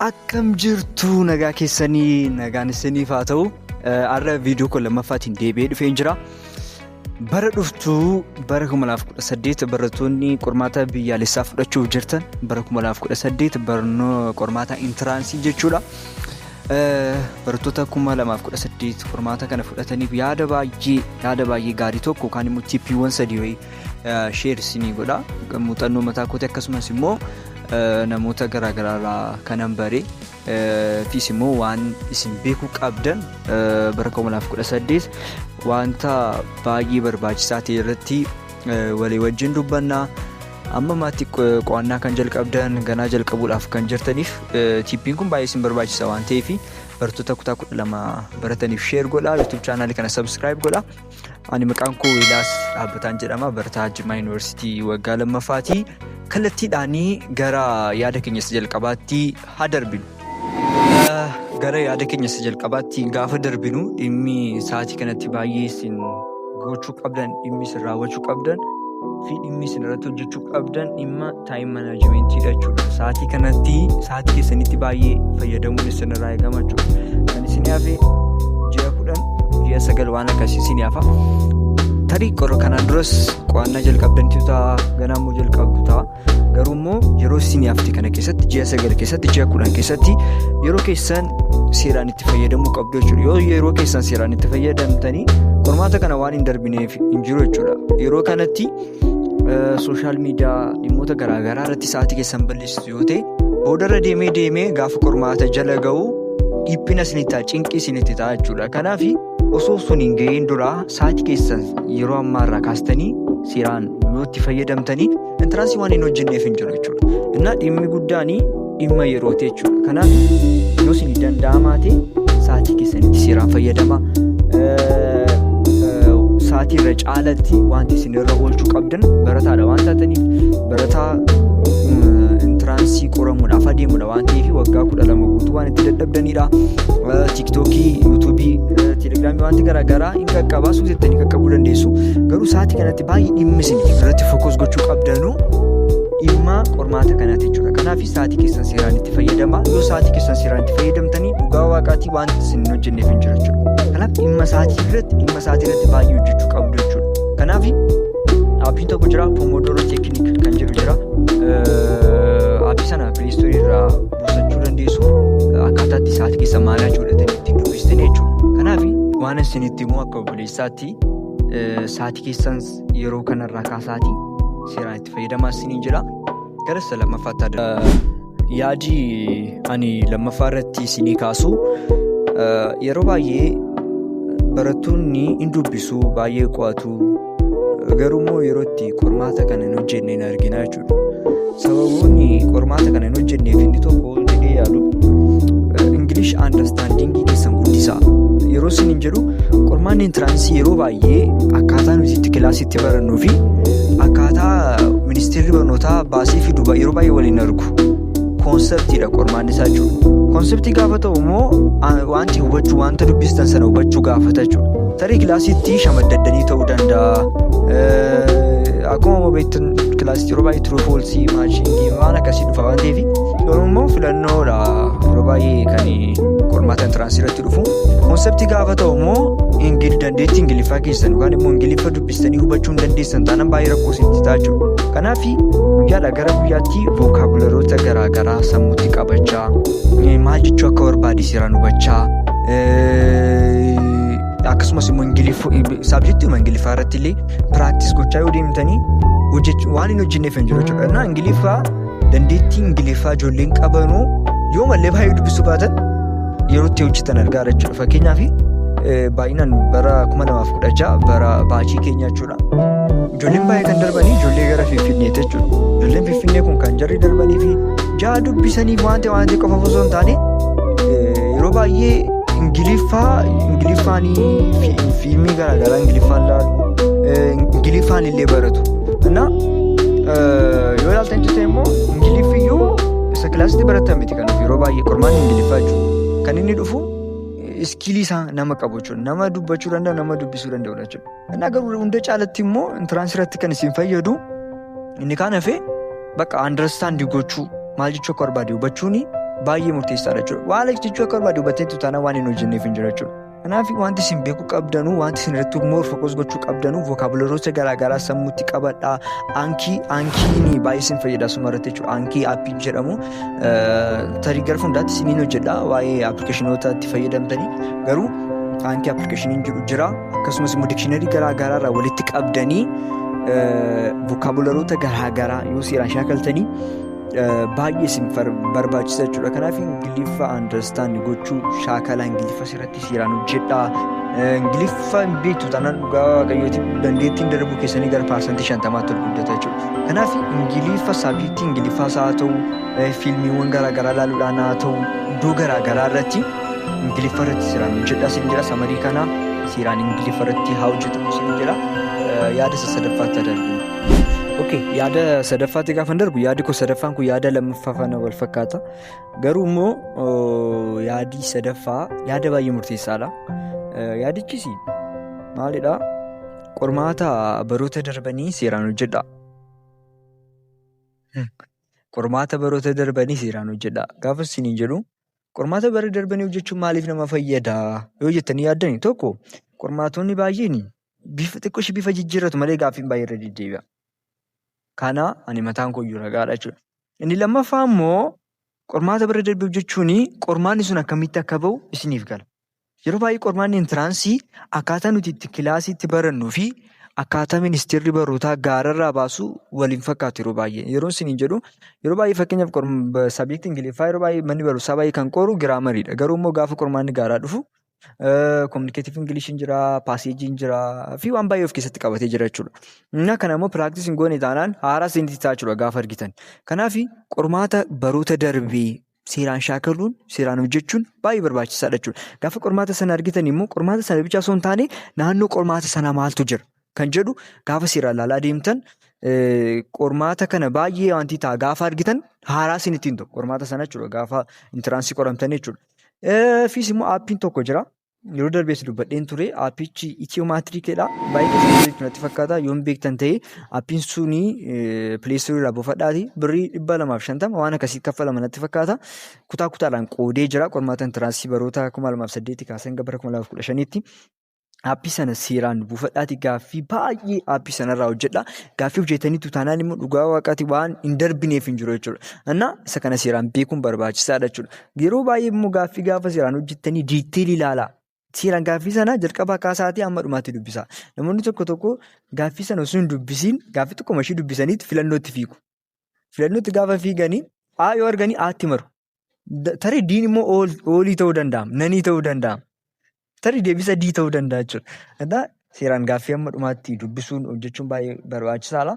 Akkam jirtu nagaa keessanii nagaan isiniif haa ta'u. Har'a viidiyoo koo lammaffaatiin deebi'ee dhufeen jira. Bara dhuftu bara 2018 barattoonni qormaata biyyaalessaa fudhachuuf jirtan bara 2018 barnoo qormaata intiraansii jechuudha. Barattoota 2018 qormaata kana fudhataniif yaada baay'ee yaada baay'ee gaarii tokko yookaan immoo tiippiiwwan sadii wayii sheer isinii godha muuxannoo mataa kooti akkasumas immoo namoota garaagaraarraa kanan bare fiis immoo waan isin beekuu qabdan bara 2018 wanta baay'ee barbaachisaa ta'e irratti walii wajjin dubbannaa amma maatii qo'annaa kan jalqabdan ganaa jalqabuudhaaf kan jirtaniif tiippiin kun baay'ee isin barbaachisa waan ta'eef bartoota kutaa 12 barataniif sheer godha yuutuub chaanaalii kana sabskiraayib godha. Ani maqaan koo Wilaas Dhaabbataan jedhama. Barataa Jimmaa Yuunivarsiitii waggaa lammaffaati. Kallattiidhaan gara yaada keenya isa jalqabaatti haa darbinu. Gara yaada keenya isa jalqabaatti gaafa darbinu dhimmi sa'aatii kanatti baay'ee isin gochuu qabdan, dhimmi isin raawwachuu qabdan fi dhimmi isin irratti hojjechuu qabdan dhimma taayim manaajimentii jechuudha. Sa'aatii kanatti sa'aatii keessanitti baay'ee fayyadamuun isin irraa eegama jechuudha. Kan isin hafe ji'a kudhan ji'a sagal waan akkasii isin hafa. Tarii qorra kanaan duras qo'annaa jalqabdantu ta'a ganaa immoo jalqabdu ta'a. Garuu immoo yeroo isin hafte kana keessatti ji'a sagal keessatti ji'a kudhan keessatti yeroo keessan seeraan itti fayyadamuu qabdu jechuudha. Yoo yeroo keessan seeraan itti fayyadamtanii qormaata kana waan hin darbineef hin jiru jechuudha. Yeroo kanatti sooshaal miidiyaa dhimmoota garaagaraa irratti sa'aatii keessan balleessitu yoo ta'e boodarra deemee deemee gaafa qormaata jala ga'u dhiphina isinitti ta'a cinqii isinitti ta'a jechuudha. Kanaaf osoo sun hin ga'iin dura sa'aatii keessan yeroo ammaa irraa kaastanii seeraan yoo itti fayyadamtanii intaraansii waan hin hojjenneef hin jiru jechuudha. Innaa dhimmi guddaan dhimma yerooti jechuudha. Kanaaf yoo isin danda'amaa ta'e sa'aatii keessanitti seeraan fayyadama. Sa'aatii irra caalatti wanti isin irra oolchuu qabdan barataadha waan taataniif barataa intiraansii qoramuudhaaf adeemudha waan ta'eef waggaa kudha lama guutuu waan itti dadhabdanidha. Tiiktookii, yuutuubii, telegiraamii wanti garaagaraa hin qaqqabaa suutettanii qaqqabuu dandeessu. Garuu sa'aatii kanatti Baay'ee dhimmi isin irratti fokus gochuu qabdanuu dhimma qormaata kanaati jechuudha. Kanaaf sa'aatii keessan seeraan itti fayyadamaa. Yoo sa'aatii keessan seeraan itti fayyadamtanii dhugaa waaqaatii waan isin hojjenneef hin jiru jechuudha. Kanaaf dhimma sa'aatii irratti dhimma sa'aatii irratti baay'ee hojjechuu qabdu jechuudha. Kanaaf dhaabbiin tokko jira pomodoro teekiniik kan jedhu jira. Dhaabbii sana piliistoorii irraa buusachuu dandeessu akkaataa itti sa'aatii keessa maal hojjetanii ittiin dubbistanii jechuudha. Kanaaf waan isin itti immoo akka obboleessaatti Saatii keessan yeroo kanarraa kaasaatii seeraan itti fayyadamaa isiniin jedha. Gara isa lammaffaatti adda. Yaadi ani lammaffaa irratti isinii kaasu yeroo baay'ee barattoonni hin dubbisu baay'ee qo'atu garuu immoo yeroo itti qormaata kana hin hojjenne hin argina jechuudha. sababoonni qormaata kana hin hojjenneef inni tokko jedhee yaadu ingilish andarstaandiingii keessan guddisaa yeroo isin hin jedhu qormaanni intiraansii yeroo baay'ee akkaataa nuti itti kilaasitti barannuu fi akkaataa ministeerri barnootaa baasee fidu yeroo baay'ee waliin argu koonseptiidha qormaanni isaa jechuudha. Koonseptii gaafa ta'u immoo wanti hubachuu wanta dubbistan sana hubachuu gaafata jechuudha. Tarii kilaasiitti shamaddaddanii ta'uu danda'a. Akkuma beektan kilaasiitti yeroo baay'ee turuu foolsii maashingii waan akkasii dhufa waan ta'eef garuu immoo filannoodha yeroo baay'ee kan qormaata intiraansii irratti dhufu. Koonseptii gaafa ta'u immoo dandeettii ingiliffaa keessan yookaan immoo ingiliffa Jettanii hubachuun dandeessan taanaan baay'ee rakkoo isinitti ta'a jechuudha. Kanaaf guyyaadhaa gara guyyaatti vookaabuleroota garaagaraa sammuutti qabachaa maal jechuu akka barbaade seeraan hubachaa akkasumas immoo saabjektiiwwan ingiliffaa irratti illee piraaktis gochaa yoo deemtanii waan hin hojjenneef hin jiru jechuudha. Ingiliffaa dandeettii ingiliffaa ijoolleen qabanuu yoo mallee baay'ee dubbisuu baatan yeroo itti hojjetan argaa jechuudha fakkeenyaaf baay'inaan bara 2016 bara baachii keenya jechuudha ijoolleen baay'ee kan darbanii ijoollee gara finfinneeti jechuudha ijoolleen finfinnee kun kan jarri darbanii fi ja'a dubbisanii waanti waanti qofa osoo hin taane yeroo baay'ee ingiliffaa ingiliffaanii fiilmii garaagaraa ingiliffaan laalu ingiliffaan illee baratu. yoo ilaalta hin jirte immoo ingiliffi iyyuu isa kilaasitti baratan miti kan yeroo baay'ee qormaanni ingiliffaa jechuudha. Kan inni dhufu iskiilii isaa nama qabu jechuudha. Nama dubbachuu danda'u nama dubbisuu danda'u jechuudha. Innaa garuu hunda caalatti immoo intiraansii irratti kan isin fayyadu inni kaan hafee bakka andarstaandii gochuu maal jechuu akka barbaade hubachuun baay'ee murteessaadha jechuudha. Waan jechuu akka barbaade hubatteetu taanaan waan hin hojjenneef hin jira jechuudha. Kanaaf wanti isin beekuu qabdanuu wanti isin irratti immoo fokus gochuu qabdanuu vookaabuleroota garaagaraa sammuutti qabadhaa aankii aankiin baay'ee isin fayyada suma irratti jechuudha aankii aappii jedhamu tarii gara fuuldaatti isiniin hojjedha waa'ee appilikeeshinoota itti fayyadamtanii garuu aankii appilikeeshiniin jiru jira akkasumas immoo dikshiinarii garaagaraa irraa walitti qabdanii vookaabuleroota garaagaraa yoo seeraan shaakaltanii baay'ee isin barbaachisa jechuudha kanaaf ingiliffa understand gochuu shaakala ingiliffa irratti seeraan hojjedhaa ingiliffa hin beektu taanaan dhugaa waaqayyootiin dandeettiin darbuu keessanii gara paarsantii shantamaatti ol guddata jechuudha kanaaf ingiliffa saabjektii ingiliffaas haa ta'u fiilmiiwwan garaagaraa ilaaluudhaan haa ta'u iddoo garaagaraa irratti ingiliffa irratti seeraan hojjedhaa sin jedha samarii kana seeraan ingiliffa irratti haa hojjetamu sin jedha yaada isa sadaffaatti adarbu. Okay, yaada sadaffaatti gaafan darbu yaadi koo sadaffaan kun yaada lammaffaa faana wal fakkaata. Garuu immoo oo, yaadi sadaffaa yaada baay'ee murteessaadha. Eh, Yaadichis maalidha? Qormaata baroota darbanii seeraan hojjedha. Hmm. Qormaata baroota darbanii seeraan hojjedha. Gaafa isiniin jedhu qormaata bara darbanii hojjechuun maaliif nama fayyada? Yoo jettanii yaaddani tokko qormaatonni baay'een bifa xiqqoo ishee bifa jijjiirratu malee gaaffiin baay'ee irra deddeebi'a. Kana ani mataan koo iyyuu ragaadha jechuudha. Inni lammaffaa immoo qormaata bira darbuuf jechuun qormaanni sun akkamitti akka ba'u isiniif gala. Yeroo baay'ee qormaanni intiraansii akkaataa nuti itti kilaasiitti barannuu fi akkaataa ministeerri barootaa gaararraa baasu waliin fakkaatu yeroo baay'ee. Yeroo isiniin jedhu yeroo baay'ee fakkeenyaaf sabiikti Ingiliffaa yeroo baay'ee manni barumsaa baay'ee kan qoru giraamariidha. Garuu immoo gaafa qormaanni gaaraa dhufu Communicative English hin jira, passage hin jira fi waan baay'ee of keessatti qabatee jira jechuudha. Innaa kana immoo practice hin goone taanaan haaraa isinitti ta'a jechuudha gaafa argitan. Kanaaf qormaata baroota darbee seeraan shaakaluun, seeraan hojjechuun baay'ee barbaachisaadha jechuudha. Gaafa qormaata sana argitan immoo qormaata sana bicha osoo hin taane naannoo qormaata sanaa maaltu jira? kan jedhu gaafa seeraan ilaalaa deemtan qormaata kana baay'ee wanti ta'a gaafa argitan haaraa isin ittiin ta'u qormaata sana jechuudha gaafa intiraansii qoramtan jechuudha. Fiis immoo aappiin tokko jira. Yeroo darbees dubbadheen ture aappichi itiyoomaatiriikeedha. Baay'ee keessatti beektu natti fakkaata yoon beektan ta'e aappiin suni pileestorii irraa buufadhaati birrii dhibba lamaaf shantama waan akkasii kaffalama natti fakkaata. Kutaa kutaadhaan qoodee jira qormaata intiraansii baroota kuma lamaaf saddeetti kaasee hanga bara kuma lamaaf kudha shaniitti Aappii sana seeraan buufadhaatii gaaffii baay'ee aappii sanarraa hojjedha. Gaaffii hojjetaniitu taanaan immoo dhugaa waaqaatii waan hin darbineef hin jiru jechuudha. Anna isa kana seeraan beekuun barbaachisaadha jechuudha. Yeroo baay'ee immoo gaaffii gaafa seeraan hojjettanii diiteelii ilaalaa. Seeraan gaaffii sana jalqabaa kaasaatii hamma dhumaatti dubbisaa. Namoonni tokko tokko gaaffii sana osoo hin dubbisiin gaaffii tokko mashii dubbisaniitu filannootti fiigu. Filannootti gaafa fiiganii A yoo arganii A'tti maru. Da- Tarii diin immoo ool- oolii ta'uu danda'a. Nanii ta'uu danda'a. Tarii deebisa dii ta'uu danda'a jechuudha. Egaa seeraan gaaffii amma dhumaatti dubbisuun hojjechuun baay'ee barbaachisaadha.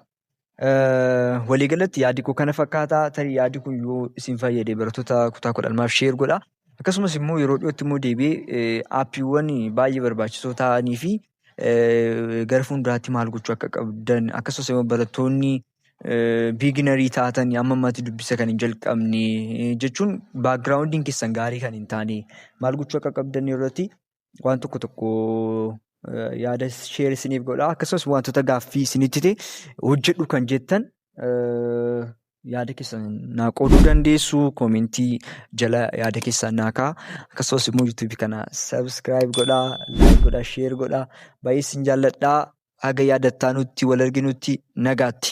Eh, Waliigalatti yaadi koo kana fakkaata. Tarii yaadi kun yoo isin fayyade barattoota kutaa kudha lamaaf sheer godha. Akkasumas immoo yeroo dhiyootti immoo deebi'ee eh, aappiiwwan baay'ee barbaachisoo ta'anii fi eh, gara fuulduraatti maal gochuu akka qabdan akkasumas immoo barattoonni biiginarii taatanii amma ammatti dubbisa kan hin jalqabne jechuun baakgiraawundiin keessan gaarii kan hin taane maal gochuu akka qabdan irratti waan tokko tokko yaada sheer isiniif godha akkasumas wantoota gaaffii isinitti ta'e hojjedhu kan jettan yaada keessan naa qooduu dandeessu koomentii jala yaada keessan naa kaa akkasumas immoo yuutuubii kana sabiskiraayib godhaa laayik godhaa sheer godhaa baay'ee isin jaalladhaa haga yaadattaanutti wal arginutti nagaatti.